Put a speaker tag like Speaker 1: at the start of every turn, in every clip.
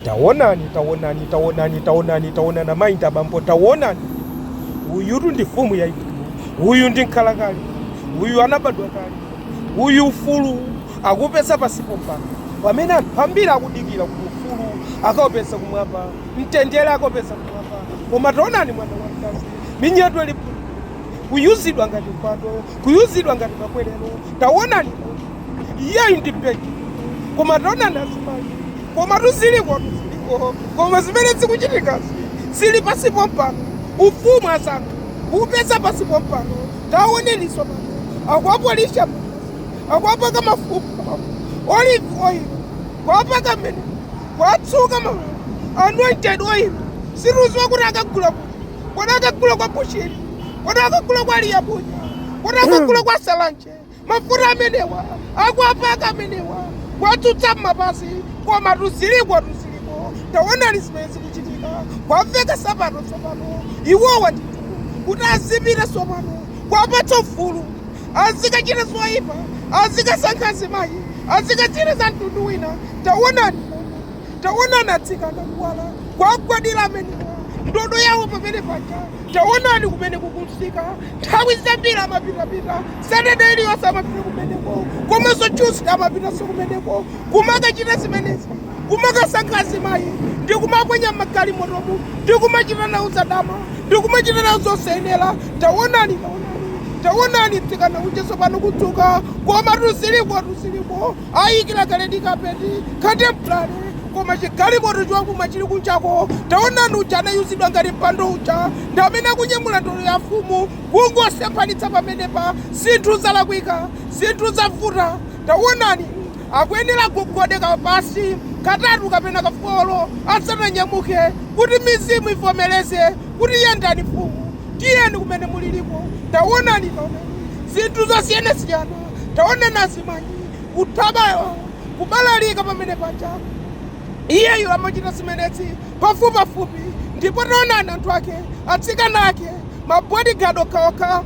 Speaker 1: Taonani, taonani, taonani, taonani, taonani, amayi ndi abambo, taonani, uyutu ndi mfumu yaikulu, uyu ndi mkhalakale, uyu anabadwa kale, uyu ufulu akuupeza pansi pompano, pamene anthu ambiri akudikira kuti ufulu akaupeze kumwamba, mtendere akaupeze kumwamba. Koma taonani, mwana wamkazi, minyeto ili phululu, kuyuzidwa ngati mpando, kuyuzidwa ngati makwerero, taonani, iyeyu ndi beki koma taonani azimayi komatu ziliko tu ziliko koma zimene zikuchitikazi zili pansi pompano ufumu asankha kuupeza pansi pompano taonani tsopano akuwapolisha akuwapaka mafuta olive oil kuwapaka mmene kuwatsuka ma anointed oil sindikudziwa kuti akagula kuti kodi akagula kwa bushiri kodi akagula kwa liyabunya kodi akagula kwa salanje Mafuta amenewa akuwapaka amenewa kuwatsuka m'mapazi komatu ziliko tu ziliko taonani zimene zikuchitika kuwaveka sapato tsopano iwowa ndithu kuti azipita tsopano kuwapatsa ufulu azikachita zoipa azikasankha azimayi azikachita za mtundu wina taonani momwe Taonani atsikana kuwala kuwagwadira amenewa, ndodo yawo pamene paja. Taonani kumene kuli kumsika. Nthawi zambiri amapitapita Saturday iliyonse, amapita kumeneko, komanso Tuesday amapitanso kumeneko, kumakachita zimenezi, kumakasankha azimayi ndi kumaponya m'magalimotomu ndi kumachita nawo zadama ndi kumachita nawo zosayenera. Taonani, taonani, taonani mtsikana uja tsopano kudzuka, komatu zilikotu, ziliko. Ayikila kaledi kapeti, katempulale, koma chi galimoto chouma chili kunjako. Taonani uja anayuzidwa ngati mpando uja ndi amene akunyamula ndodo ya mfumu. Kungosemphanitsa pamenepa, zinthu zalakwika. Zinthu zavuta. Taonani, akuyenera agogode ka pansi katatu kapena ka foro asananyamuke, kuti mizimu ivomereze kuti yendani, mfumu. Tiyeni kumene muliliko. Taonani, taonani, zinthu zosiyanasiyana. Taonani, azimayi kuthawa iwo kubalalika pamene paja. Iyeyu amachita zimenezi pafupipafupi. Ndipo taonani, anthu ake, atsikana ake, mabodigadi okhaokha,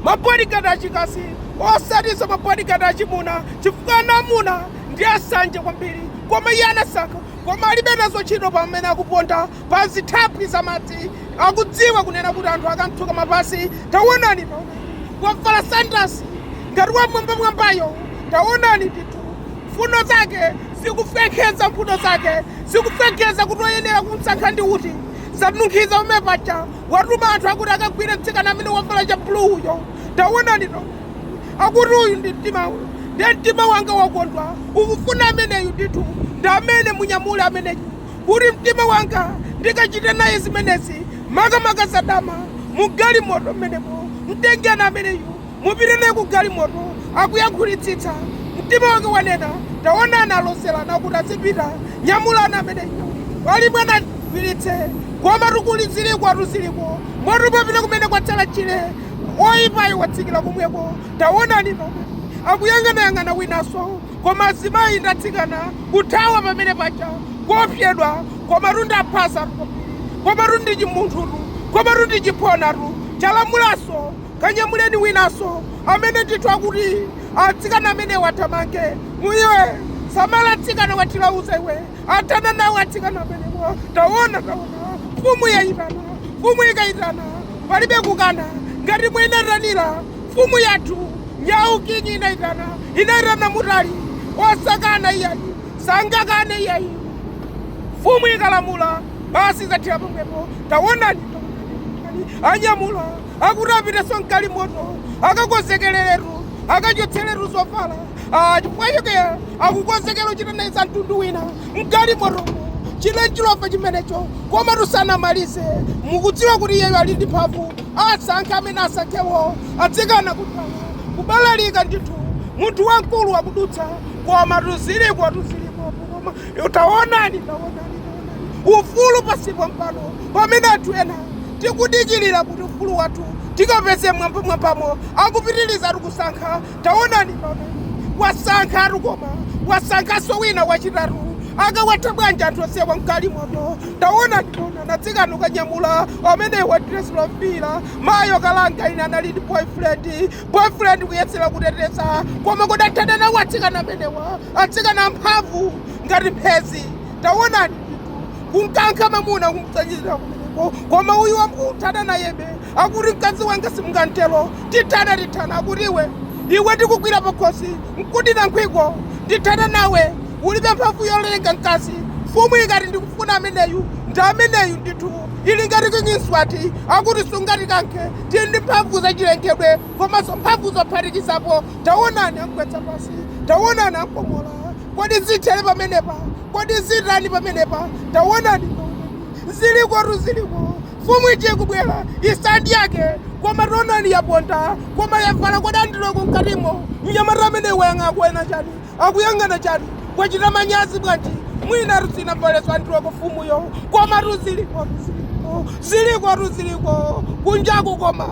Speaker 1: mabodigadi achikazi, osatinso mabodigadi achimuna, chifukwa ana amuna ndi asanje kwambiri. Koma iye anasankha, koma alibe nazo ntchito pamene akuponda pa zithaphwi za madzi akudziwa kunena kuti anthu akamtsuka mapazi taonani to wavala sandasi ngati wamwambamwambayo taonani ndithu mfuno zake zikufekeza mfuno zake zikufekeza kuti oyenera kumsankha ndi uti zanunkhiza pamene paja watuma anthu akuti akagwire mtsikana amene wavala cha bluuyo taonani to akuti uyu ndi mtima uyu ndiye mtima wanga wakondwa ukufuna ameneyu ndithu ndi amene munyamule ameneyu kuti mtima wanga ndikachite naye zimenezi, makamaka zadama, mu galimoto mmenemo. Mtengeni ameneyu, mupite naye ku galimoto, akuyankhulitsitsa. Mtima wake wanena, Taonani, aloserana kuti azipita. Nyamulani ameneyu. Pali mwana, mgwiritse. Komatu kuli zilikotu ziliko, moto umapita kumene kwatsala tchire. Woyipayo watsikira komweko. Taonani nomwe. Akuyang'anayang'ana winanso. Koma azimayi ndi atsikana kuthawa pamene paja kuopyedwa komatu ndi aphasatu komatu ndi chimunthutu komatu ndi chiphonatu chalamulanso kanyamuleni winanso amene ndithu akuti atsikana amenewa athamange mu iwe samala mtsikana wa thilauza iwe athana nawo atsikana amenewa taona taona mfumu yaitana mfumu ikaitana palibe kukana ngati mwenatanila Mfumu yathu Nyaukinyi inaitana, inaitana Mutali, osakana iyayi, sangakane iyayi. Mfumu ikalamula basi zathera pomwepo. Tawonani, tawonani, anyamula akuti apitenso m'galimoto, akakonzekereretu, akachotseretu zovala, ah, chifukwa chake akukonzekera kuchita naye za mtundu wina m'galimotomo. Chinenchilova chimenecho, komatu sanamalize. Mukudziwa kuti iyeyu ali ndi mphamvu? Asankha amene asankhewo atsikana kuthawa kubalalika ndithu munthu wamkulu akudutsa komatu zilikotu zilikotu koma yo taonani taonani taonani ufulu pansi pompano pamene anthu ena tikudikilira kuti ufulu wathu tikapeze mmwambamwambamo akupitilizatu kusankha Taonani pamene wasankhatu koma wasankhanso wina wachitatu akawatha bwanji anthu onsewa mgalimoto taonani onani atsikana kukanyamula amene wa dress lofira mayo kalanga ine anali ndi boyfriend boyfriend kuyesera kuteteza koma kutathana nawo atsikana amenewa atsikana amphamvu ngati mphezi taonani ndithu kumkankha mamuna kumtsanyira kumeneko koma uyu wamkuthana nayebe akuti mkazi wanga simungantero Tithana tithana akuti iwe iwe ndikugwira pakhosi nkudina nkhwiko ndithana nawe ulibe mphamvu yolenga mkazi mfumu ikati ndikufuna ameneyu ndi ameneyu ndithu ili ngati King Mswati akuti sungatikankhe tili ndi mphamvu zachilengedwe komanso mphamvu zophatikizapo tawonani amgwetsa pansi tawonani amkomola kodi zithere pamenepa kodi zitani pamenepa tawonani tawonani zilikotu ziliko Mfumu ija ikubwera, isa ndi yake, koma taonani yaponda, koma yavala kodi andiroko mkatimo. Mnyamata ameneyu wayang'ana akuona chani? Akuyang'ana chani? Wachita manyazi bwanji? Mwinatu sinavalenso andiroko mfumuyo. Komatu zilikotu, ziliko, zilikotu, ziliko, kunjaku koma.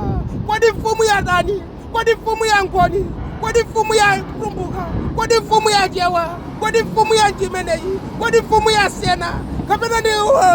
Speaker 1: Kodi mfumu yatani? Kodi mfumu ya Ngoni? Kodi mfumu ya Tumbuka? Kodi mfumu ya Chewa? Kodi mfumu yanji imeneyi? Kodi mfumu ya Sena? Kapena ndi.